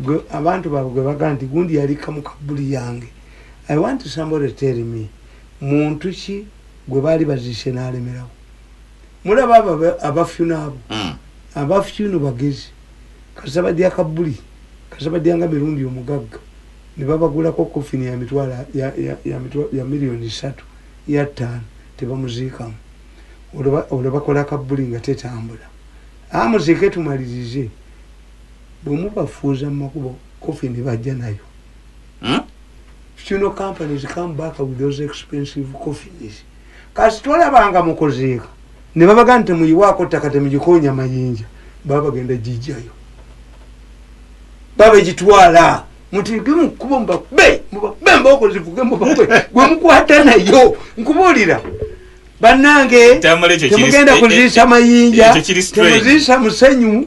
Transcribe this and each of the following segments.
Gwe abantu bawe gwe bagamba nti gundi yalikka mu kabbuli yange I want somebody to tell me muntu ki gwe baali baziise n'alemerawo mulaba abo abafyuno abo hmm. abafyuno bagezi kasita badya kabbuli kasita badya nga mirundi omugagga ne babagulako kofini ya mitwalo ya miliyoni ssatu ya ttaano tebamuziikamu olwo bakola kabbuli nga tetambula amuziike tumalirize Bwe mubafuuza mu makubo, coffin bajja nayo. Hmm? Funeral companies come back with those expensive coffins. Kasi tolabanga mukozeeka. Ne babaga nti muyiwaako ttaka temugikoonya mayinja. Baba bagenda gijjayo. Baba egitwala. Mutige mu kubo mubakube. Mubakube mbooko zivuge mubakube. Gwe mukwata nayo. Nkubuulira. Bannange temugenda kuziisa mayinja. Temuziisa musenyu.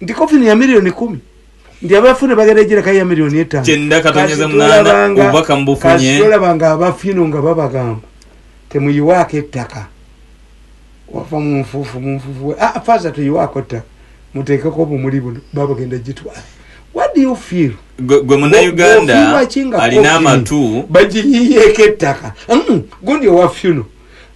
nti kofini ya miliyoni kumi nti abafuna bagenda egirakayo ya miliyoni etanoolabanga abafino nga babagamba temuyiwaako ettaka wava mu nfuufu mu nfuufu we ah, faaza tuyiwaako ettaka muteekeko obumuli buno babagenda gitwala what do you feel gwe munauganda alina amatu bagiyiyeeko ettaka mm, gundi owa funo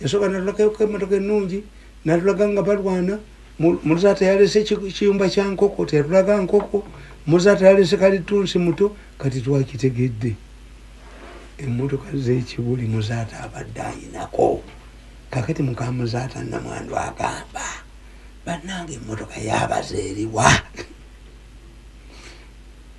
Yasooka natulagako emmotoka ennungi natulaga nga balwana muzaata yalese kiyumba kya nkoko teyatulaga nkoko muzaata yalese kalitunsi muto kati twakitegedde emmotoka zekibuli muzaata abadde ayinako kakati mukamuzaata namwandu agamba bannanga emmotoka yabaza eriwa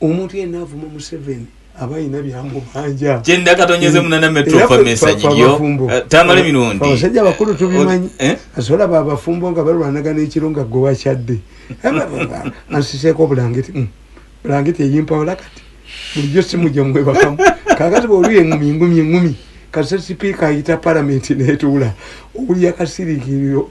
omuntu yenna avuma museveni aba alina byamubanja kyenda katonyeze munana metrofamesanyiyotamale eh, mirundi abasajja abakulu eh, tubimanyi eh, asobola ba abafumbo nga balwanagana ekiro nga gwe wakyadde ansiseeko obulangiti mm. bulangiti eyimpawola kati bulijjo simu gyemwebakamu kakati bwoluyo engumi engumi engumi kasa sipiika ayita palamenti netuula owulya kasiriikiriro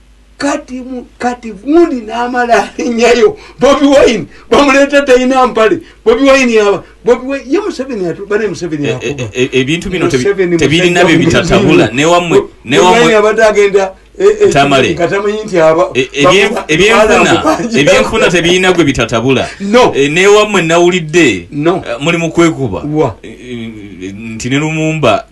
kati kati gundi namala alinyayo bobi wine bamuleta talina mpale bobi wine yaba bobi wine ye museveni atubane museveni eh, eh, eh, ebintu bino tebirina bye bitatabula newamwe newamwe abadde agenda tamale ebyenfuna tebirina gwe bitatabula newamwe nawulidde muli mukwekuba nti ne lumumba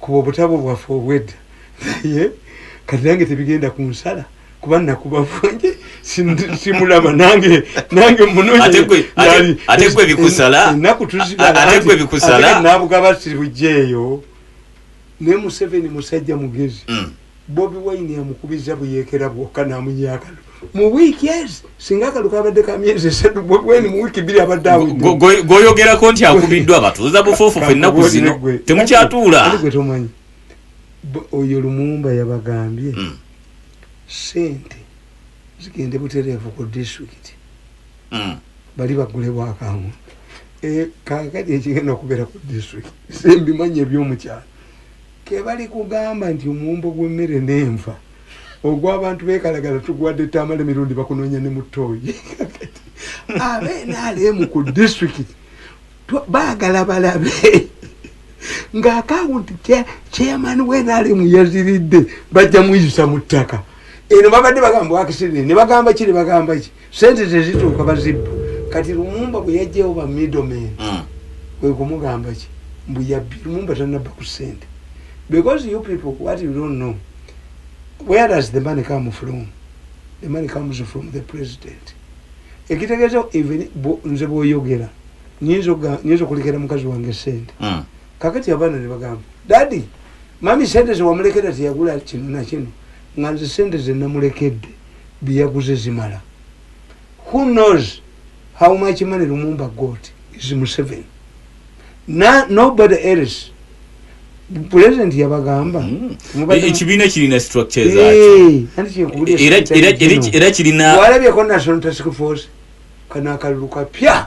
Kuba obutabo bwaffe obwedda naye kati nange tebigenda ku nsala kuba nakuba bwange simulaba nange nange munonyenakutuzibaatnabugaba siribujja eyo naye museveni musajja mugezi mm. Bobi Wine amukubizza buyeekera bwokka n'amunya akalu mu wiiki ezi singa akalu kabadde ka myezi esatu Bobi Wine mu wiiki bbiri abadde awedde. Gwoyogerako nti akubiddwa abatuuza bufuufufu ennaku zino temukyatuula. Ali gwe tomanyi oyo Lumumba yabagambye hmm. ssente zigende butereevu ku disitulikiti hmm. bali bagule bwakangulu eh, kakati ekigenda okubeera ku disitulikiti simbimanyi ebyomukyalo Kebalikugamba nti omuwumbo gw'emmere n'enva ogw'abantu bekalagala tugwadde Tamale Mirundi bakunoonya ne mu tooyi kakati aba nrm ku district baagala balabe nga akawunti chairman wa nrm yaziridde bajja muyisa mu ttaka eno babadde bagamba bwakisirire ne bagamba ki ne bagamba ki sente tezituuka bazibba kati lumumba bwe yajjawo ba middleman mm. kwe kumugamba ki mbu yabbi lumumba tanabba ku sente because you people what you don't know where does the money come from the money comes from the president ekitegeeza even nze bwoyogera nyinza okulekera mukazi wange sente mm. kakati abaana ne bagamba dadi mami sente zewamulekera teyagula kino nakino nga nze sente zenamulekedde byeyaguze zimala who knows how much money lumumba got is museveni na nobody else president yabagamba hmm. e, ekibiina kirina structure zaera kirina walabyeko national task force kano akalulu kapya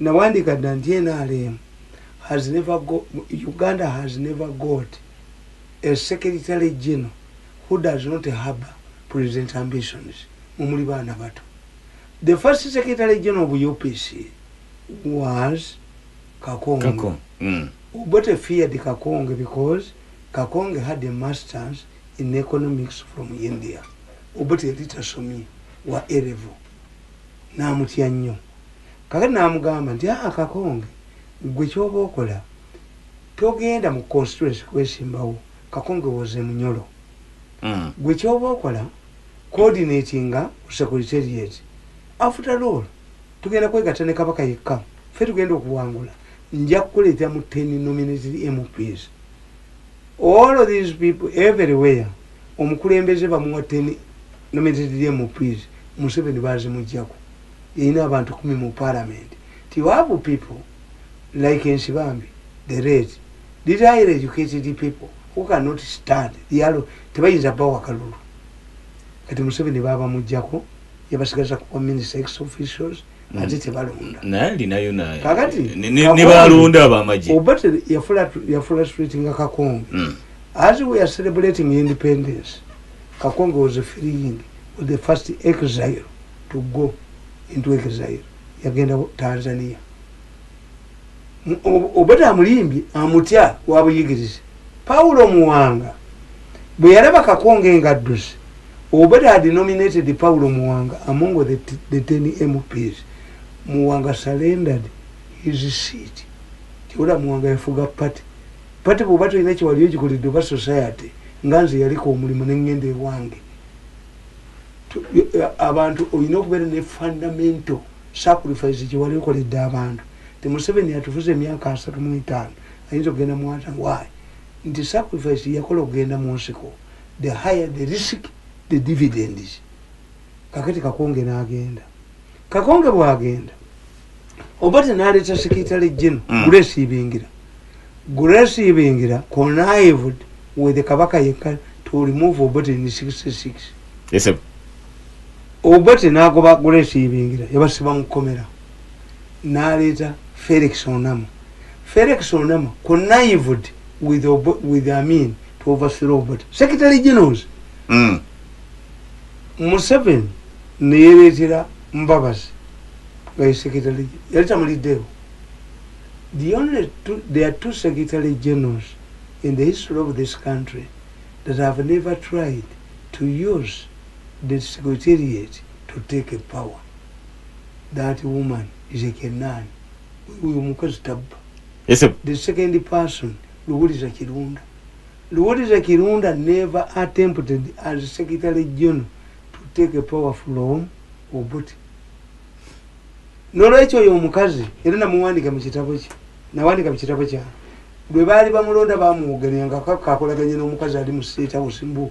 Nawandiika dda nti nrm has never go, Uganda has never got a secretary general who does not harbour president ambitions, mwe muli baana bato. The first secretary general of UPC was Kakonge. Kako. Mm. Obote feared Kakonge because Kakonge had a masters in economics from India. Obote yali tasomye wa A level. n'amutya nnyo. Kaakati n'amugamba nti, Aa Kakonge, ggwe ky'oba okola, togenda mu constituency kwesimbawo. Kakonge was a Munyoro. Ggwe ky'oba okola, coordinatinga ku Secretariat. After all, tugenda kwegatta ne Kabaka yekka. Ffe tugenda okuwangula. Nja kukuleetera mu ten nominated MPs. all of these people everywhere omukulembeze bamuwa 10 nominated mps museveni bazimujjako yalina abantu kumi mu parliament ti you have people like ensibambi the red these highly educated people who cannot stand the yalo tebayinza bawa kalulu kati museveni babamujjako yabasigaza kuba minister ex officials ate tebalonda naye alinayo kakati nebalonda abamagye obate yafula streetinga kakonge hmm. as we are celebrating independence kakonge was freeing was the first exile to go into exile yagenda tanzania obada amulimbye amutya wabuyigirize pawulo muwanga bwe yalaba kakonge nga adduze obada denominated pawulo muwanga among the, the ten mps muwanga surrendered his seat kyola muwanga yafuga pati pati bwoba tolina kyewali ogikolidde oba society nga nze yaliko omulimu nengenda ewange abantu olina okubeera ne fundamental Sacrifice gye wali okoledde abantu nti Museveni yatufuze emyaka asatu mu etaano ayinza okugenda mu ana why? Nti sacrifice gye yakola okugenda mu nsiko the higher the risk the dividends. Kakati Kakonge n'agenda. Kakonge bw'agenda Obote n'aleeta secretary general mm. Grace Ibingira. Grace Ibingira connived with Kabaka yekka to remove Obote in 66. Yes, sir. obote nagoba grace ibingira yabasiba mukomera naleeta felix onama felix onama connived with, with amin to overthrow obote secretary generals mm. museven neyereetera mbabazi nga ye secretary yali tamuliddeewo the only two, there are two secretary generals in the history of this country that have never tried to use the secretariat to take power that woman is a kenan uyo mukazi tabba the second person luwuliza kirunda luwuliza kirunda never attempted as secretary general to take a power from obuti nolwekyo oyo omukazi era namuwandika mu kitabo kye nawandika mu kitabo kya lwe baali bamulonda bamwogerera nga kakolaganye n'omukazi ali mu state house mbu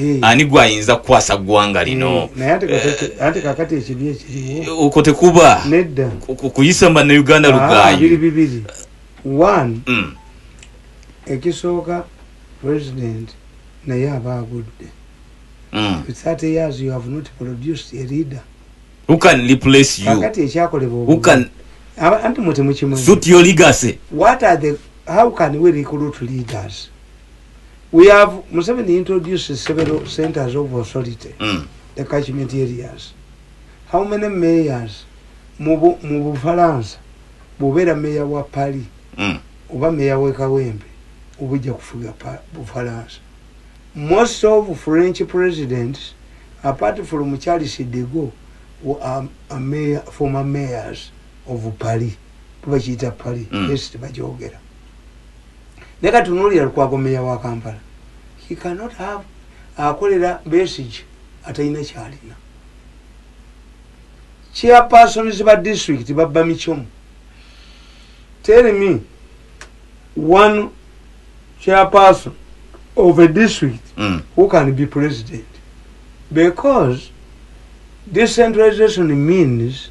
Eh. ani gwayinza kukwasa ggwanga lino okwo tekuba kuyisa banauganda ah, lugaayi mm. ekisooka president naye aba agudde mm. kakati ekyakolebwa anti mwe temukimanyi how can we recruit leaders we have museveni introduced several centers of authority mm. the catchment areas how many mayors mu bufalansa bwobeera meya wa pali mm. oba meya wekawembe obujja kufuga bufalansa most of french presidents apart from charles dego um, former mayors of pali tubakiyita pali mm. est bajogera naye kati tunuulira lukwago meya wa kampala he cannot have akolera besige atalina kyalina chairpersons ba district babba micomu tell me one chairperson of a district mm. who can be president because decentralization means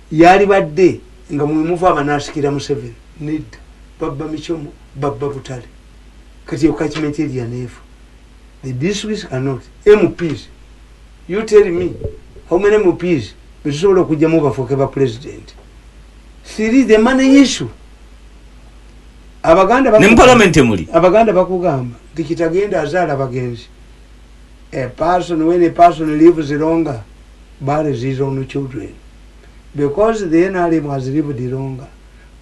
Yalibadde nga mwemuva abanasikira museveni nedda babba michomo babba butale kati eyo kachimenti eri yaneefa the districts are not mps you tell me how many mps betusobola okujjamu bafuuke ba president siri the money issue abaganda abaganda bakugamba nti kitagenda azaala bagenzi A person, when a person lives longer, buries his own children. Because the NRM has lived longer,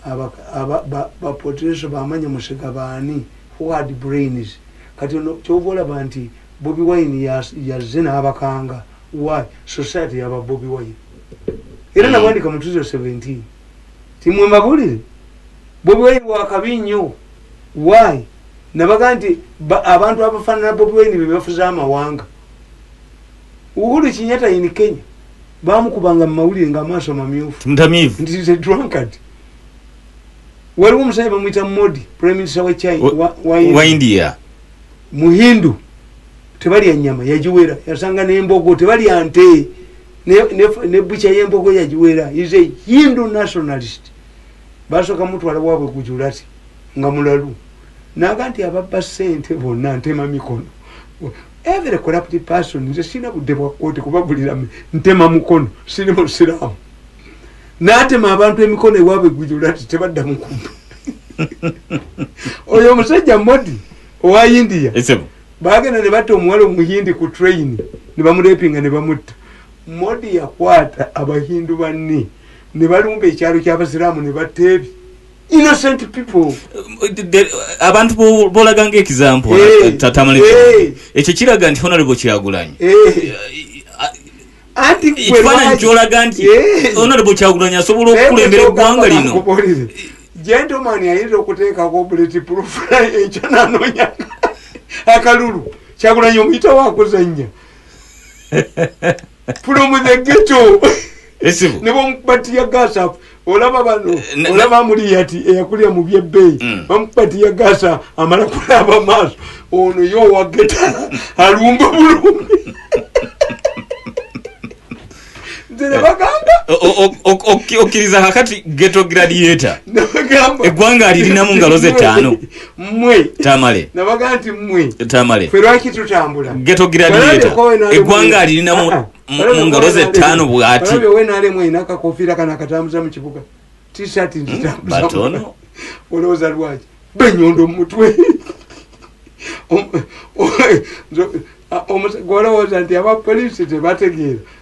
bapotreso bamanya musika baani who had brains. Kati ono kyova olaba nti Bobi Wine yazze n'abakanga. Why? Society yaba Bobi Wine. Era hmm. nabwandika mu 2017. Timwe mabulire. Bobi Wine wakabi nnyo. Why? nabaga nti abantu abafanana bobiwaini bebafuze amawanga uhuru kinyata in kenya bamukubanga mumawulire nga amaaso mamyufu waliwo omusajja bamwita modi prime minister wa china wa, wa, wa india muhindu tebalya nyama yagiwera yasanga nembogo tebalya nte nebucha yembogo yagiwera is a hindu nationalist basoka mutwala wabwe gujulati nga mulalu naga nti ababba sente bonna ntema mikono every corrupt person nze sirina budde bwa kooti kubagulira ntema mukono siri musiraamu natema abantu emikono ewaabwe gujula ti tebadda mukubba oyo omusajja modi owa india bagenda ne batta omuwala omuhindi ku train ne bamurepinga ne bamutta modi yakwata abahindu banne ne balumba ekyalo ky'abasiraamu ne batta ebi innocent people abantu bolaga nga example eh, tatamale eh. ekyo kiraga nti honorable kyagulanyi eh. ekifaananyi kyolaga nti honorable kyagulanyi asobola okukulembera eggwanga lino gentleman ayinza okuteekako bullet proof ekyo nanonya akalulu kyagulanyi omuyita wakuzanya from the ghetto esibu ne bamukubati ya gasa olaba bano eh, olaba muli yati eyakulya mu byebbeyi mm. bamukubati ya gasa amala kulaba maaso ono yo wa geta alumba bulumi okkiriza kakati geto gradiator eggwanga alirinamu ngalo ze ttaano mwe tamale nabaga nti mwe tamale fe lwaki tutambula geto giradiyeta egwanga alirina mu ah, ah. ngalo ze tano bwati olabye we nale mwe inaka kofira kana katambuza mu kibuga t-shirt nti hmm, tambuza batono oloza lwaje benyondo mutwe omusagwala woza nti aba police tebategeera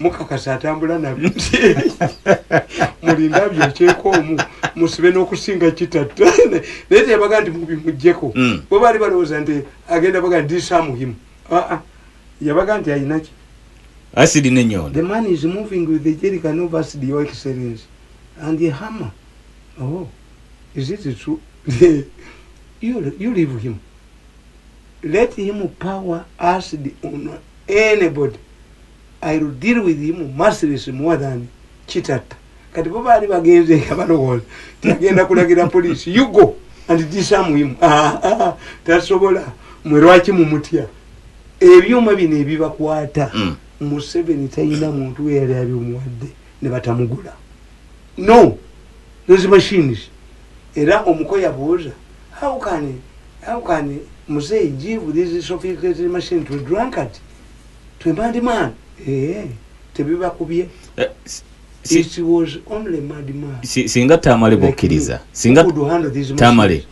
mukakasa atambula nabyo nti mulinda byokyeko omu musibe n'okusinga kitatta naye teyabaga nti mubimugjeko hmm. bo baali balowooza nti agenda baga ndi samuhimu ah, ah. yabaga nti ayinaki asidi nenyondo the man is moving with the jerican of asidi your excellence and the hammer oh is it true you, you leave him let him power asidi on anybody I'll deal with him mercilessly more than Kitatta. Kati bo baali bagenze nga balowooza nti agenda kulagira poliisi you go and disarm him. Ah, ah, ah, tasobola mwe lwaki mumutya ebyuma bino ebibakwata mm. Museveni talina muntu we yali abimuwadde ne batamugula no those machines era omuko yabuuza how can how can muzeeyi give this sophisticated machine to drunkard twemandimana eh, tebibakubye eh, singa tamale bokkiriza singa tamale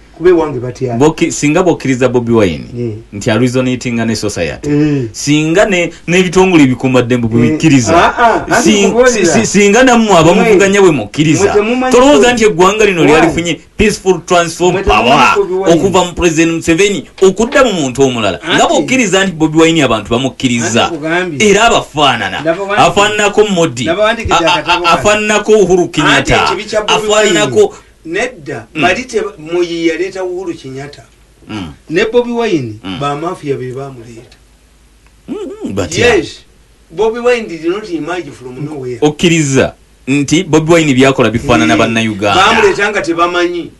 singa bokkiriza bobi wine yeah. nti arisonitinga ne society yeah. singa n'ebitongole ne ebikumaddembu bwebikkiriza yeah. ah, ah, singa nammwe abamuvuganya bwe mukkiriza tolowooza nti eggwanga lino lyalifunye peaceful transform power okuva mu president museveni okudda mu muntu omulala nga bokkiriza nti bobi wine abantu bamukkiriza era abafaanana afaananako modi afaananako uhuru kinyata afaananako nedda mm. bali muyi yaleeta uhuru kinyata mm. ne bobi wine mm. bamafiya be bamuleeta mm-hmm. yes okkiriza nti bobi wine byakola bifaanana bannayugandabamuleeta nga tebamanyi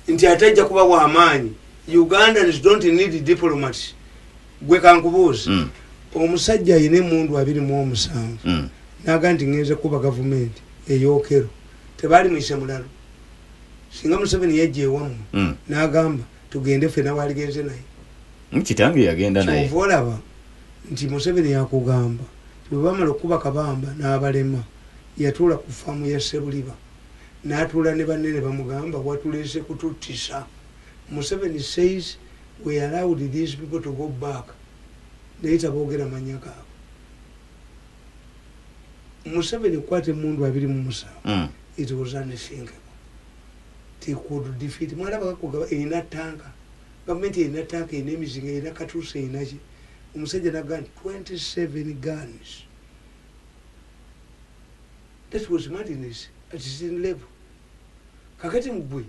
nti ate ajja kuba wamaanyi ugandans dont need diplomat gwe kankubuuzi mm. omusajja ayina emundu abiri mu omusanvu mm. naga nti ngenze kuba gavumenti eyokero tebaali muise mulalo singa museveni yajja ewamu mm. nagamba tugende ffe nawaligenze naye kitange yagenda naye olaba nti Museveni yakugamba nti bwe baamala okukuba Kabamba n'abalema, yatuula ku ffaamu ya Ssebuliba n'atuula ne banne ne bamugamba, watuleese kututtisa. Museveni says we allowed these people to go back naye taboogera mannya gaabwe. Museveni okukwata emmundu abiri mu musanvu, it was unthinkable nti he could defeat, mwalaba kakugaba erina ttanka. Gavumenti erina tank erina emizinga erina katuusa erina ki omusajja naga nti 27 guns that was madness at his level kakati mugwe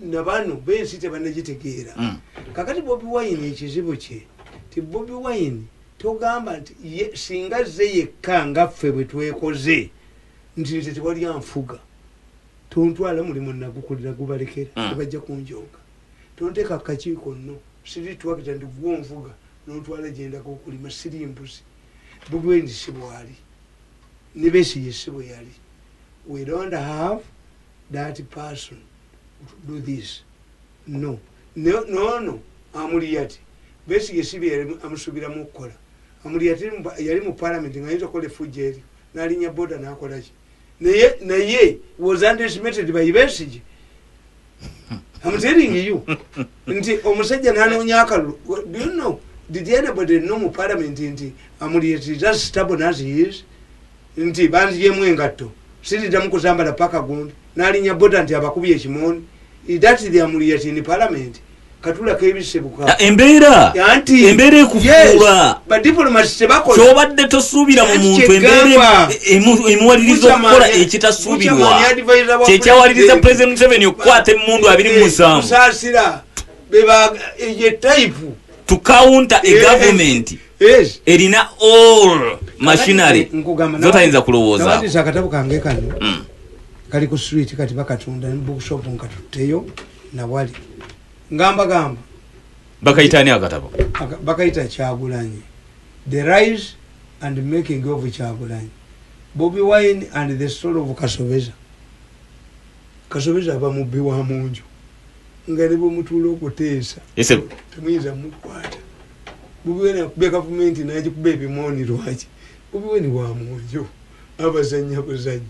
nabano bensi tebanagitegeera mm. kakati bobi wine ekizibu kye ti bobi wine togamba nti singa ze yekka nga ffe bwetwekoze nti nze tewali anfuga tontwala mulimu nagukolera gubalekera mm. tebajja kunjonga Tonteeka ku kakiiko nno siri ttulakita nti ggwe onvuga n'ontwala gye ndaga okulima. Siri mbuzi. Bugwens si bw'ali. Ne Besigye si bwe yali. We don't have that person to do this. No. Ne, n'ono Amuriat, Besigye si bye yali amusuubiramu okukola. Amuriat yali mu Palamenti ng'ayinza okukola effujjo eryo n'alinnya boda n'akola ki? naye naye was underestimated by besige am telling you nti omusajja nanoonya akalulu do you know did anybody know mu parliament nti amulyetiza stable as he is nti banziyemu engatto siridamu kuzambala paka gundi nalinya boda nti abakubye ekimooni idatiri amulyeti in parliament embeera embeera ekufuula kyobadde tosuubira mu muntu embeera emuwaliriza okukola ekitasuubirwa kyekyawaliriza pulezidenti museveni okukwata emundu abiri mu musanvu to counter a government erina all machinery zotayinza kulowoozaakatabo kange kano mm. kali ku swit kati bakatunda bookshop nkatutteyo nawali ngamba gamba bakayita ani akatabo bakayita kyagulanyi the rise and making of kyagulanyi bobi wine and the story of kasobeza kasobeza aba mubbi wa munju nga ne bwemutuula okuteesa temuyinza mukwata bobi wine akubya gavumenti nagikuba ebimooni lwaki bobi wine wa munju abazanya buzanyi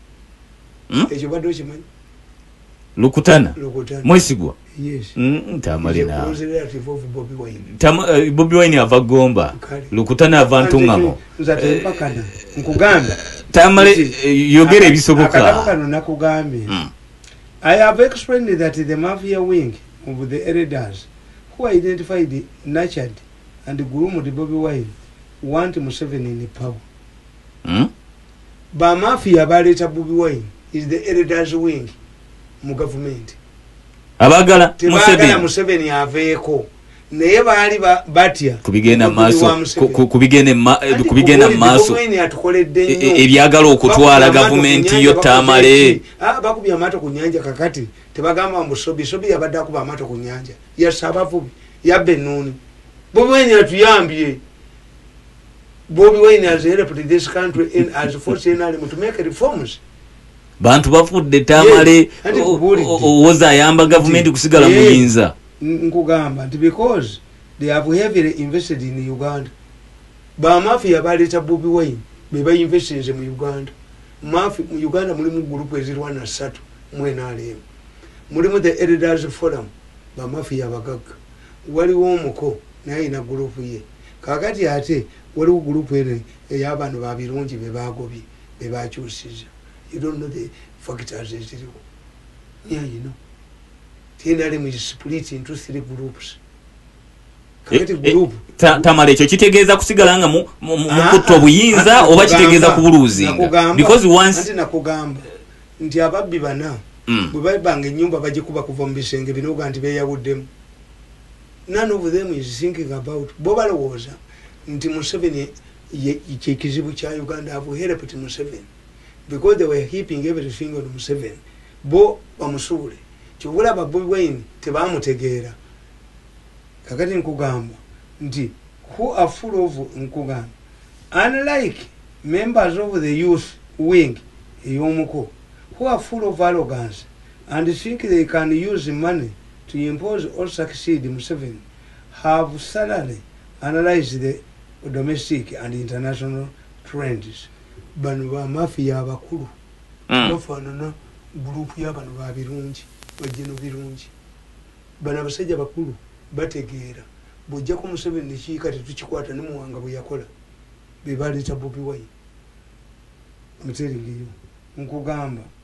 hmm? ekyo badde okimanyi lukutana mwesigwa bobi wine ava gomba lukutana ava ntungamo tamale eh, yogera ebisobokaakagambye hmm. i have explained that the mafia wing of the elders who identified nurtured and groomed bobi wine want museveni in power hmm? Ba mafia baleeta Bobi Wine is the elders wing mu gavumenti. Abagala Museveni. Museveni aveeko. Naye baali batya. Kubigenda maaso. Kubigenda ma, kubigenda maaso. E, e, ebyagala okutwala gavumenti yo tamale. Ah bakubya amato ku nyanja kakati. Tebagamba mbu sobi sobi yabadde akuba amato ku nyanja. Yasaba vubi. Yabbe nuni. Bobi Wine atuyambye. bobi wine has helped this country in as force in army to make reforms bantu bafudde tamale owoza ayamba gavumenti kusigala muyinza nkugamba nti because they have heavily invested in uganda bamafia baleeta bobi wine bebainvestinze mu uganda mafi mu uganda mulimu gurupu ezirwana satu mwenalemu mulimu the elders forum bamafia abagagga waliwo omuko Naye alina group ye. Kakati ate waliwo group eno eya bano ba Birungi bebagobye bebakyusiza you don't know the factors eziriwo near you know the nrm is split into three groups Eh, eh, tamale ekyo kitegeeza kusigala nga mukutta ah, obuyinza ah, oba kitegeeza kubuluuzinganakugamba nti ababbi bana hmm. bwebabanga enyumba bagikuba kuva mubisenge binoga nti beyawuddemu None of them is thinking about bo balowooza nti museveni ye kyekizibu kya Uganda have helped museveni because they were heaping everything on museveni bo bamusuule kyova olaba bobi wine tebamutegeera kakati nkugamba nti who are full of nkugamba unlike members of the youth wing eyomuko who are full of arrogance and think they can use money to impose or succeed Museveni have thoroughly analyzed the domestic and international trends. Bano ba mafia abakulu mm. bafanana group ya bano ba birungi bajeno birungi bano abasajja bakulu bategeera bwojjako Museveni nekiika tetukikwata ne muwanga bwe yakola be baleeta Bobi Wine. I'm telling you nkugamba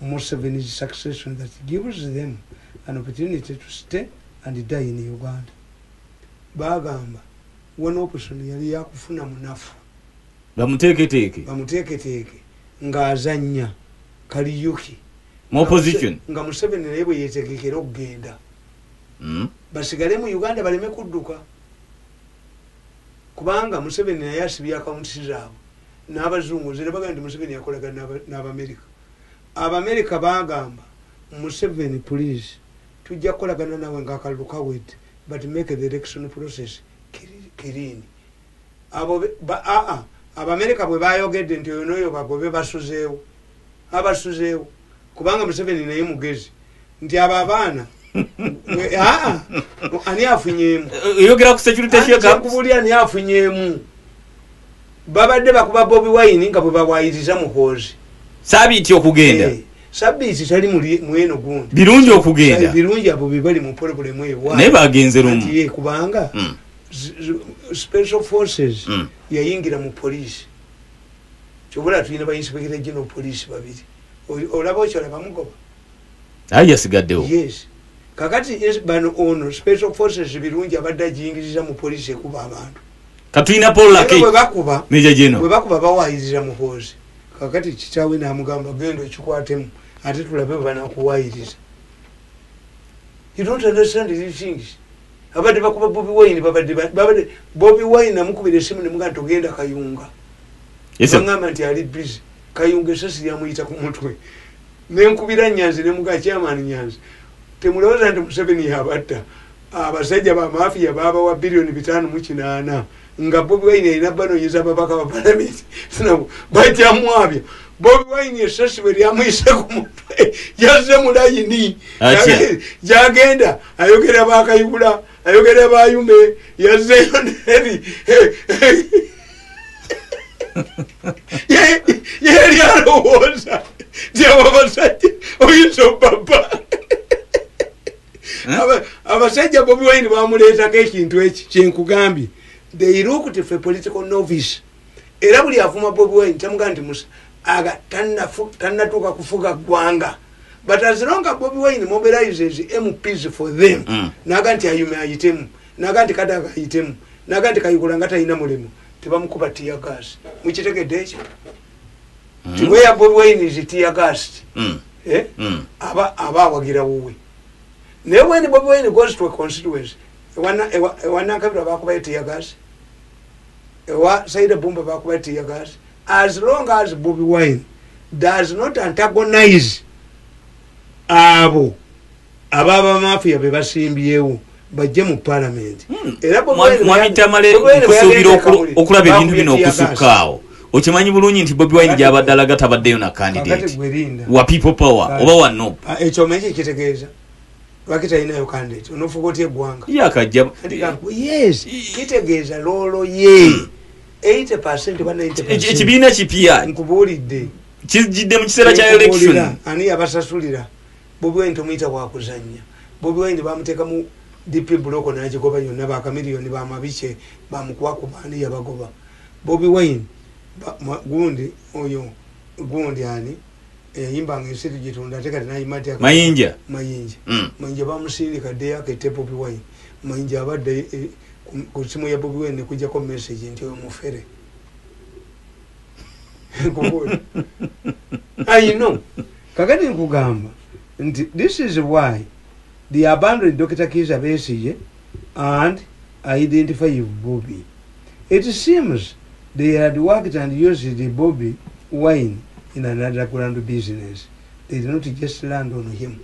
Museven's succession that gives them an opportunity to stay and die in Uganda. Bagamba one option yali yakufuna munafu. Bamuteeketeeke. Bamuteeketeeke nga azanya kaliyuki. More position. Nga Museveni naye bwe yetegekera okugenda. Mm. Basigale mu Uganda baleme kudduka. Kubanga Museveni naye asibye akawuntisi zaabwe n'abazungu nze ne bagamba nti Museveni yakolagana n'Abamerika. Abamerika baagamba Museveni please tujja kukolagana naawe nga akalulu kawedde but make the election process clean. Abo ba a a Abamerika bwe baayogedde nti oyo n'oyo bagobe basuzeewo. Abasuzeewo kubanga Museveni naye mugezi. nti abo abaana ah, ani afunyemu oyogera ku security shekakubuli ani afunyemu babadde bakuba bobi wine nga bwebawayiriza muhoozi sabiiti okugenda eh, sabiiti tali mweno gundi birungi okugenda eh, birungi abo bebali mu polobulemu ewa naye bagenze lumu eh, kubanga hmm. special forces hmm. yayingira mu poliisi kyobola tulina bainspekita gino poliisi babiri olaba okyolabamugoba aye yasigaddewo yes kakati bano ono special forces birungi abadde ajingiriza mu police ekuba abantu katulina polwebakuba webakuba bawayiriza muhoozi kakati kitawe namugamba genda okikwatemu ate tulabe banakuwayiriza you don't understand these things abadde bakuba bobi wine babadde babadde bobi wine namukubira esimu nemugamba togenda kayunga yes, agamba nti ali busy kayunga esasi lyamuyita ku mutwe nenkubira nyanzi ne muka chairman nyanzi temulowoza nti museveni yabatta abasajja bamafiya babawa biliyoni bitano mukinaana nga bobi wine erina banonyeza ababaka ba palamenti bajamwabya bobi wine esasi bwe lyamuyise ku mutwe yazze mulayini jagenda ayogera bakayibula ayogera bayume yazeyo neri yeri alowooza tiababasajja oyinza obaba eh? abasajja bobi wine bamuleetako ekintu eki kyenkugambye they looked for political novice era buli avuma bobi wine kyamugaa nti musa aga tanatuuka kufuga ggwanga but as long as bobi wine mobilizes mps for them mm. naga nti ayume ayitemu naga nti kadaga ayitemu naga nti kayikula nga talina mulimu tebamukuba tiyagas mukitegedde ekyo mm. tiweya bobi wine is tiyagas mm. eh? mm. aba aba awagira wuwe naye when bobi wine goes to a constituency ewanankabirwa bakubayo tiyagas ewa saida bumba bakuba tiyagas as long as bobi wine does not antagonize abo ababa mafia bebasimbyewo bajje mu palamenti hmm. eramuamitamalekusubira okulaba ebintu bino okusukkaawo okimanyi bulungi nti bobi wine gyabadde alaga tabaddeyo na kandidate wa people power oba wa nop ah, ekyomanyi kyekitegeeza lwaki talinayo kandidate onofuga otya eggwanga yakajja yes kitegeeza loolo ye 80 percent ba 90 ekibiina kipya nkubuulidde kijjidde mu kiseera kya election ani yabasasulira bobi wine tomuyita wakuzannya bobi wine bamuteekamu dp buloko nagigoba yonna bakamiliyoni bamabike bamukubakubaani yabagoba bobi wine gundi oyo gundi ani eyayimba nga ensi tugitonda ate kati nayima atya mayinja mayinja mm. mayinja bamusindika ddeyo akette bobi wine mayinja abadde e, e, ku simu ya bobi wine nekujjako message nti oyo mufere ayino kakati nkugamba nti this is why the abandoned dr kiza besiye and identify bobi It seems they had worked and used Bobi wine in an underground business they did not just land on him.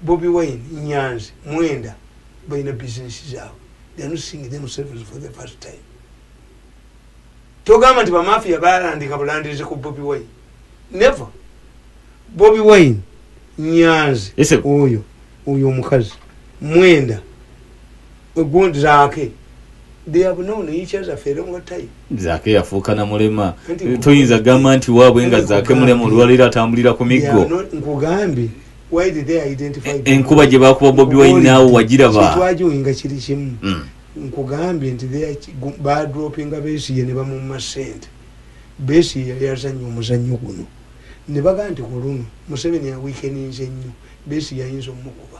Bobi wine, Nyanzi, Mwenda balina business zaabwe they are not seeing themselves for the first time. Togamba nti bamafia balandika bulandirizi ku Bobi wine. Never. Bobi wine, Nyanzi, oyo, oyo omukazi, Mwenda. Good Zaki. They have known each other for a long time. Zaki yafuuka na mulema. Toyinza gamba nti waabwe nga Zaki mulema olwaleero atambulira ku miggo. Nkugambye why did they identify eh, enkuba gye bakuba bobi wine naawe wagiraba twajoyinga kiri kimu hmm. nkugambye nti badropinga besiye ne bamumma sente besiye yali azannya omuzannyo guno ne bagaa nti ku luno museveni awiikeninze nnyo besiye ayinza omukuba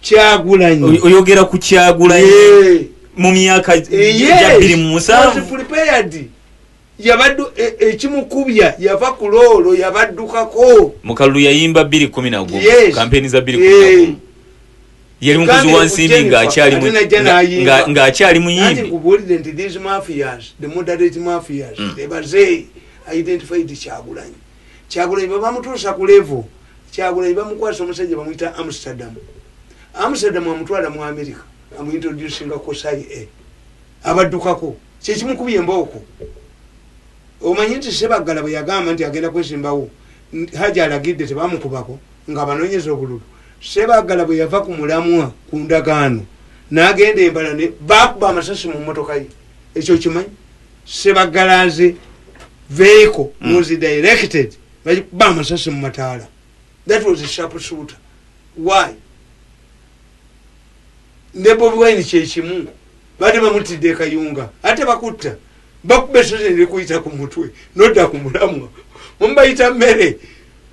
kyagulanyi oyogera ku kyagulanyi yeah. mu myaka eh, jabiri mu musanvu yabaddu e, ekimukubya yava ku loolo yabaddukako mukalulu yayimba biri kumi nago kampeni za biri eh. yali mukozi wa nsimbi ng'akyali muyimbi mm. identified kyagulanyi kyagulanyi bwebamutuusa ku levo kyagulanyi bamukwasa omusajja bamuyita amsterdam amsterdam amutwala mu america amuintroducinga kusai e abaddukako kyekimukubi embooko omanyi nti sebaggala bwe yagamba nti agenda kwesimbawo haja alagidde tebamukubako nga abanonyeza obululu sebaggala bwe yava ku mulamwa ku ndagaano nagenda embala ne bakuba amasasi mu mmotoka ye ekyo kimanyi sebagalanze vehicle mm. was directed bakuba amasasi mu mataala that was a sharp shooter why ne bobi wine kyekimu bade bamutidde ekayunga ate bakutta bakuba esozi nekuyita ku mutwe nodda ku mulamwa mubayita mmere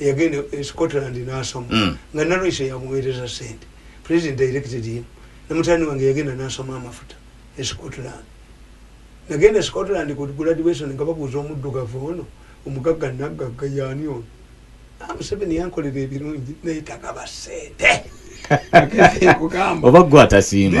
yagenda e scotland nasoma mm. nga nalwisa yamuweereza sente president directed him namutani wange yagenda nasoma amafuta e scotland nagenda e scotland ku graduation nga babuuza omuddugavu ono omugagga naggagga yaani ono ah, museveni yankolera ebirungi naye tagaba sente oba gwe atasimba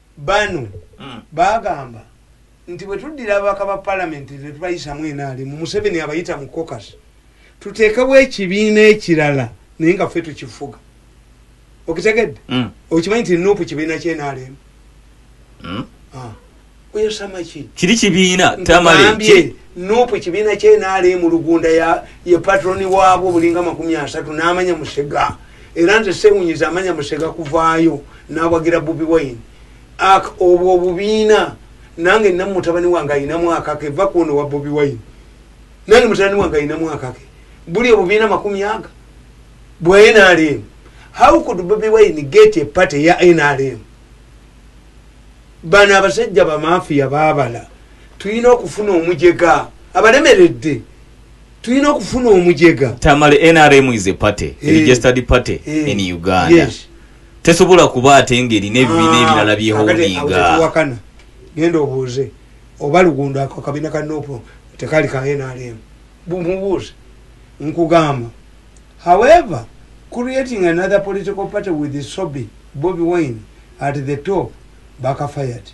Bano bagamba nti bwetuddira ababaka ba palamenti netubayisamu nrm museveni abayita mu cocus tuteekewo ekibiina ekirala naye nga ffe tukifuga okitegedde mm. okimanyi nti nupu kibiina kyenrm mm. ah. oyosamaki kiri kibiina tamale nupu kibiina kyenrm lugunda ye patroni waabwo bulinga makumi asatu n'amanya musega era nze sewunyiza amanya musega kuvaayo nawagira bobi wine ak obwo obubiina nange namu mutabani wange alina mwaka ke va kuono wa bobi wine nange mutabani wange alina mwaka ke buli obubiina makumi aga bwa nrm how could bobi wine get a party ya nrm bano abasajja bamafiya babala tulina okufuna omujega abalemeredde tulina okufuna omujega tamale nrm is a party hey. Eh. registered party hey. Eh. in uganda yes. tesobola kuba ate ngeri nebibiina ah, ebirala byehoninga genda obuuze oba lugundo ako kabina ka nopo tekali ka nrm bumubuuze nkugamba however creating another political party with sobi bobi wine at the top bakafayati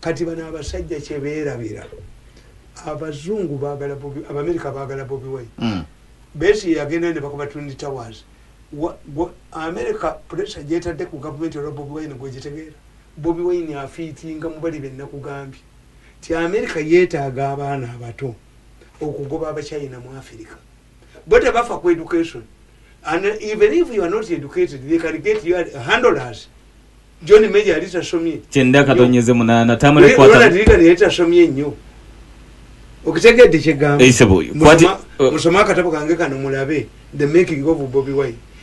kati bano abasajja kyeberabira abazungu bagala bobi abamerika bagala bobi wine mm. besi yagenda nebakuba twin towers amerika pressure jetadde ku gavumenti olwa bobi wine gwegitegeera bobi wine afiitinga mubali benakugambye ti amerika yetaaga abaana abato okugoba abachina mu afirika bo tebafa ku education and even if you are not educated they can get you handlers john major yali tasomye kyenda katonyeze munana tamale kwata wala dirika ne tasomye nnyo okitegedde kyegamba eisebo eh, kwati eh. musoma akatabo kange kano mulabe the making of bobby wine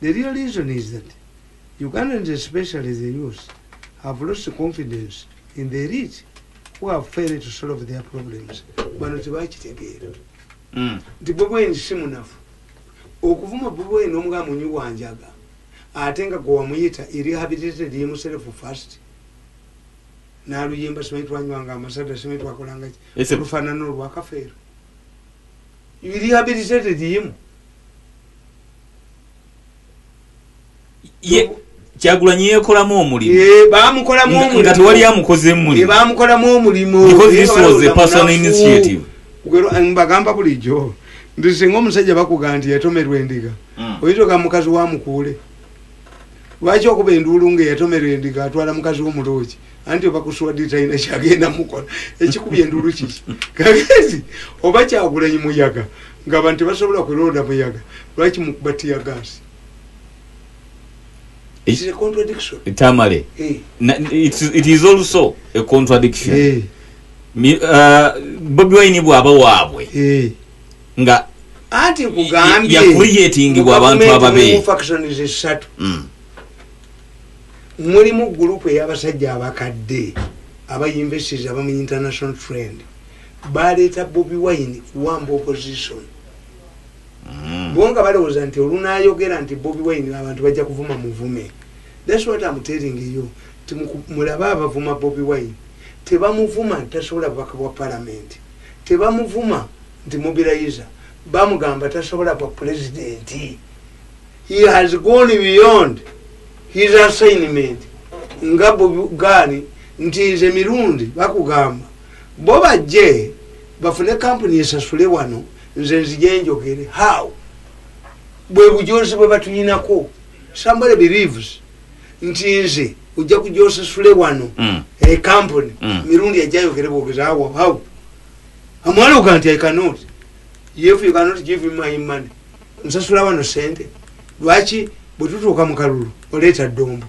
The real reason is that Ugandans especially the youth have lost confidence in the elite who have failed to solve their problems. Bano tebakitegeera. Mm. Nti Bobi Wine si munafu. Okuvuma Bobi Wine omuga munyi wanjaga ate nga gwe wamuyita erehabilitated himself first naluyimba simanyi twanywanga amasada simanyi twakolangaki olufanana olwakafeero You rehabilitated him. Ye, kyagulanyi yekolamu omulimu eh, bamukolamu omulimu nga tewali amukoze mulimu eh, bamukolamu omulimu because this was a personal initiative kugero eh, mbagamba bulijjo nti singa omusajja bakuga nti yatomerwa endiga mm. oyinza oga mukazi wa mukuule lwaki okuba enduulu nga eyatomerwa endiga atwala mukazi w'omuloogi anti oba kuswadde talina kyagenda mukola ekikubye endulu kiki kagezi oba kyagulanyi muyaga nga abantu tebasobola kulonda muyaga lwaki mukuba tiya gasi tamale eh. it is also a contradiction eh. uh, bobi wine bwaba waabwe eh. nga anti nkugambye yakuriyetingibwa abantu ababe mulimu gurupu ey'abasajja abakadde aba yunivesitizi aba mu international trend baleeta bobi wine kuwamba opposition mm. bo nga balowooza nti olunayogera nti bobi wine abantu bajja kuvuma muvume thats what am telling you ti mulabe abavuma bobi wine tebamuvuma nti tasobola bubaka bwa palamenti tebamuvuma nti mubirayiza bamugamba tasobola bwa pulezidenti he has gone beyond his assignment nga bugani nti nze mirundi bakugamba bo bajje bafune kampuni esasule wano nze nzije njogere how bwe bujozi bwe batulinako somebody believes nti nze ojja kujja osasule wano mm. e kampuni mm. mirundi ajayogere bwogezi awo how amwaloga nti i cannot if you cannot give him my money nsasula wano sente lwaki bwetutuuka mu kalulu oleeta ddombo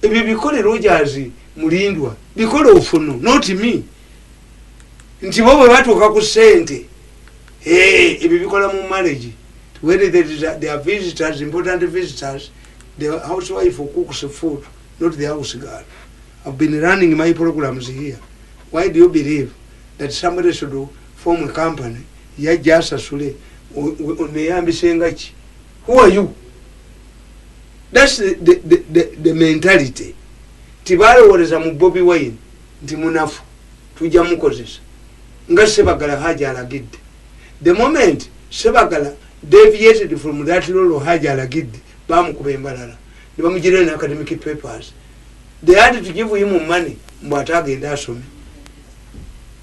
ebyo bikole rojazi mulindwa bikole ofunu noti mi nti bo bwe batuuka ku sente ebyo bikola mu marriage when they are visitors important visitors the house wife cooks food not the house girl i've been running my programs here why do you believe that somebody should do form a company yajja asasule oneyambise nga ki who are you thats the, the, the, the, the mentality tibalowooleza mu bobi wine nti munafu tujja mukozesa nga sebagala haji alagidde the moment sebagala deviated from that lolo haji alagidde bamukuba embalala nebamugirira ne academic papers they had to give him money mbu ate agende asome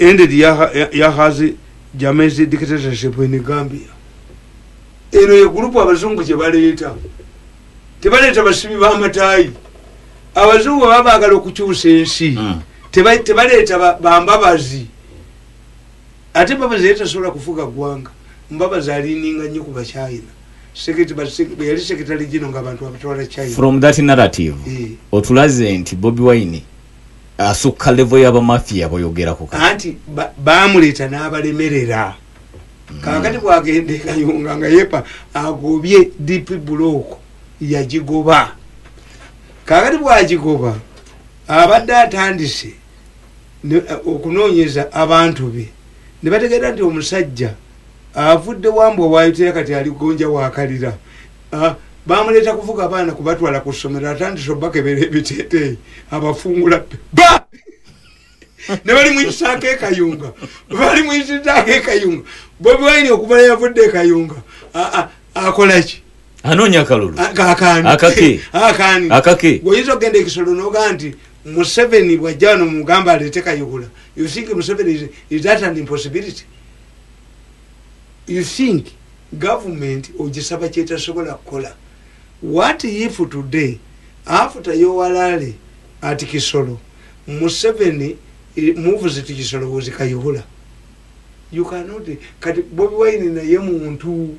ended yahazi jamezi dictatorship in gambia eno ye gurupu abazungu gyebaleeta tebaleeta basibi bamatayi abazungu baba bagala okukyusa ensi hmm. tebaleeta bambabazi ate mbabazi yali tasobola kufuga ggwanga mbabazi alininga nnyo ku bachina yali sekitale gino nga abantu abatwala china from that narrative eh. otulaze nti bobi wine asukka level yaba mafia boyogerako anti bamuleta nabalemerera mm. kakati bwagende kayunga nga yepa agobye dp block yagigoba kakati bwagigoba abadde atandise eh, okunoonyeza abantu be ne bategeera nti omusajja avudde wambwa waayitira kati aligonja wakalira Ah, bamuleeta kuvuga abaana kubatwala ku ssomero atandise obakebera ebiteteeyi abafungula ba ne bali muyisaako ekayunga bali muyisizaako ekayunga bobi wine okuva yavudde ekayunga ah, ah, akolaki anoonya akalulu akake oyinza okugenda ekisolo noga nti museveni bwajja wano mugamba aleete kayihula you think museveni is that an impossibility You think government ogisaba kyetasobola kukola? What if today after your rally at Kisoro, Museveni eh, moves to Kisoro was Kayihura? You cannot, kati Bobi Wine na ye muntu,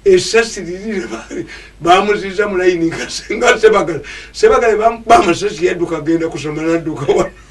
esasi lili bamuziza mulaini nga sebagala, sebagala bamasasi yaduka genda kusomana duka wana.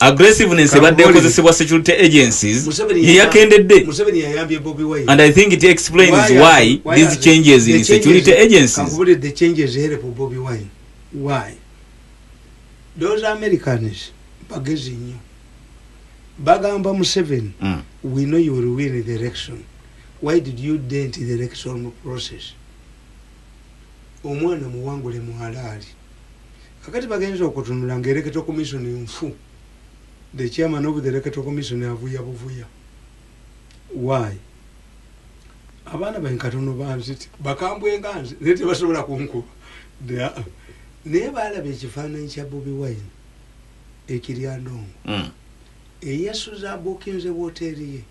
aggressiveness ebadde ekozesebwa security agencies yeyakendedde and i think it explains why these changes in security agencies those americans bagezi nnyo bagamba museveni mm. we know you will win the election why did you dent the election process omwana muwangule muhalaali Kakati bagenze okutunula nga electoral commission nfu the chairman of the electoral commission avuya buvuya why abaana bain katono banzit bakambwe nga nze naye tebasobola kunkuba naye balaba ekifaananyi kya bobi wine ekirya ndongo mm. eyasuza abukinze woteeri ye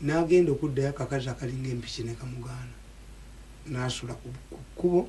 n'agenda okuddayo akakazi akalinga empiki ne kamugaana n'asula ku kkubo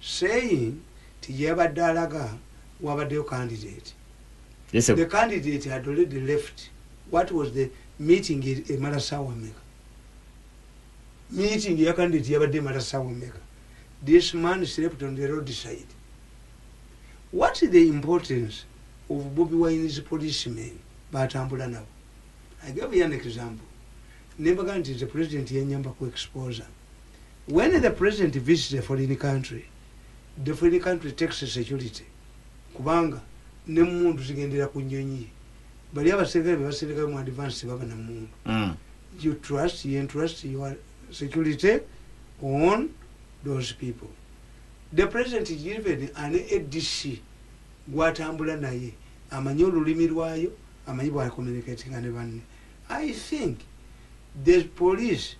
saying nti gyeyabadde alaga wabaddeyo candidate Yes, the candidate had already left what was the meeting e- emala saawa meka meeting ya candidate yabadde emala saawa meka this man slept on the road side what is the importance of bobi wine's policemen batambula nabo i gave you an example nembaga nti the president yanyamba ku exposure When the president visits a foreign country, the foreign country takes security kubanga ne mundu zigendera ku nyonyi ye. Bali abaserikale be baserikayo mu advance baba na mundu. Mm. You trust, you entrust your security on those people. The president is given an ADC gwatambula naye amanyi olulimi lwayo amanyi bwa communicating ne banne. I think the police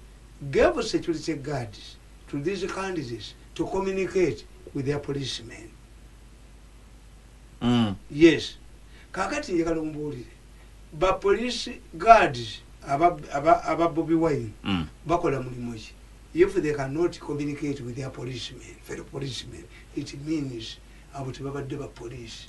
gave security guards to these candidates to communicate with their policemen. Mm. Yes. Kakati njagala ombuulire. Ba police guards aba aba, aba Bobby Wine mm. bakola mulimu ki? If they cannot communicate with their policemen, fellow policemen, it means abo tebabadde ba police.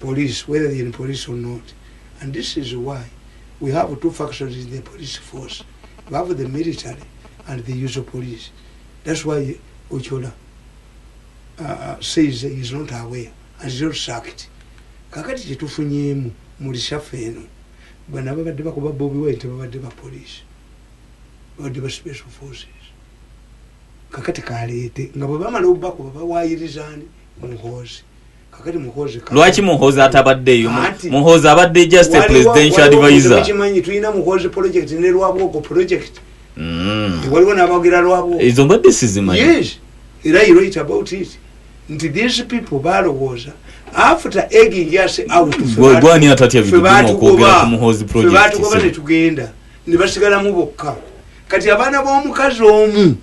police whether they're in police or not and this is why we have two factions in the police force we have the military and the usual police that's why ochola uh, uh, says he is not aware and is not sacked kakati kyetufunyemu mulishafu eno bana babadde bakuba bobi wine tebabadde ba police babadde ba special forces kakati kaleete nga bwebamala obubakuba bawayirizaani muhoozi lwaki muhozi atabaddeyo muhozi abadde just a presidential advisor mm. waliwo nabagera lwabwo ezo mbadde sizimanyi yes era you write about it nti these people balowooza after egging us out gwani atatya bituuma okwogera ku muhozi project fe batugoba netugenda ne basigalamu bokka kati abaana b'omukazi omu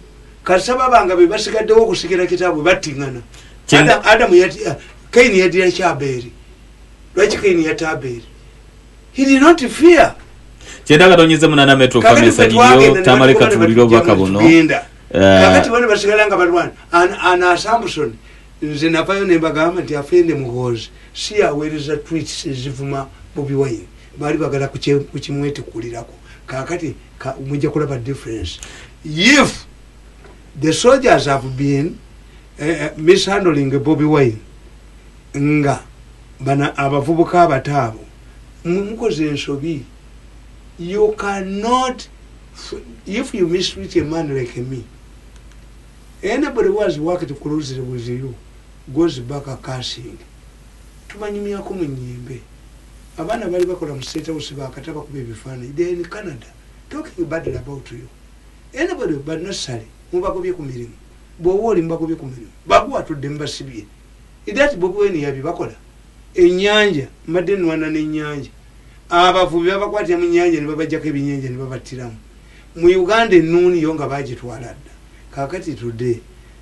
kasita babanga be basigaddewo okusikira kitaabwe battiŋana adamu uh, kaini yadira kyabeeri lwaki kaini yatta abeeri he did not fear kyenda katonyeze munana metro kamesa yiyo tamale katubulira obubaka buno uh, kakati bano basigala nga balwana ana samson nze navayo nembagamba nti afende muhoozi si aweereza twits ezivuma bobi wine baali bagala kukimwetikulirako kakati ka, mujja kulaba difference if the soldiers have been uh, mishandling bobi wine nga bana abavubuka abato abo mukoze ensobi you cannot if you mistreat a man like me anybody was worked closely with you goes back a casing Tubanyumyako mu nyembe. Abaana bali bakola mu state house bakata bakuba ebifananyi they are in Canada talking badly about you anybody but not Ssali mubagobye ku mirimu bwoba oli mubagobye ku mirimu baguwa tudde mubasibye that Bobi Wine yabi bakola enyanja mbadde nwana ne nyanja abavubi babakwatira mu nyanja ne babajjako ebinyanja ne babattiramu mu Uganda ennuuni yo nga bagitwala dda kakati tudde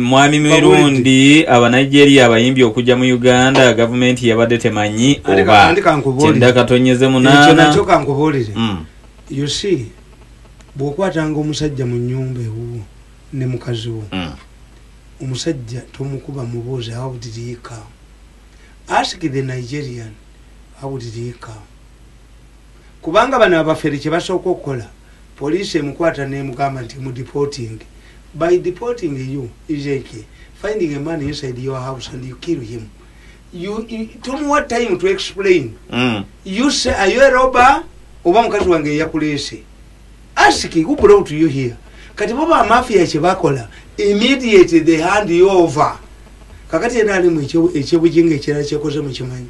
mwami mirundi abanigeria abayimbi okujja mu uganda gavumenti yabadde temanyi oba kyenda katonyeze munaanakyo kankubuulire mm. you see bwokwatanga omusajja mu nyumba ewuwo ne mukazi wo mm. omusajja tomukuba mubuuzi how did he come ask the nigerian how did he come kubanga bano abafere kyebasooka okukola police emukwata nemugamba nti mu deporting by deporting you is a key finding a man inside your house and you kill him you, you tomuwa time to explain mm. you say are you a robber oba mukazi wange eyakuleese ask who brought you here kati bo bamafia kyebakola immediately they hand you over kakati ena alimu ekyebujinga ekirala kyekoze mukimanyi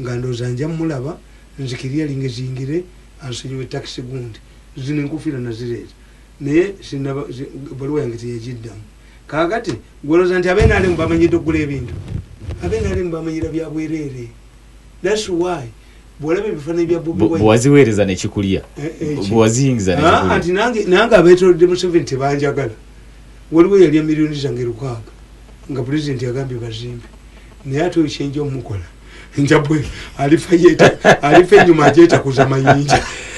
nga ndowoza nja mulaba nze kiliyalinge zingire ansonyiwe taxi gundi zino enkofira nazireeta naye sinaba ebaluwa yange teyajiddamu kakati gwoloza nti abe nalemu bamanyidde okugula ebintu abe nalemu bamanyira byabwerere that's why bwolaba ebifananyi bya bobiwaziweereza nekikulya eh, eh, bwewaziyingiza ah, nti nange abetolodde museveni tebanjagala waliwo yalya miliyoni zange lukaaga nga pulezidenti agambye bazimbe naye ate oyo kyenja omukola njabwe alifa yeta alifa enyuma ajetakuza mayinja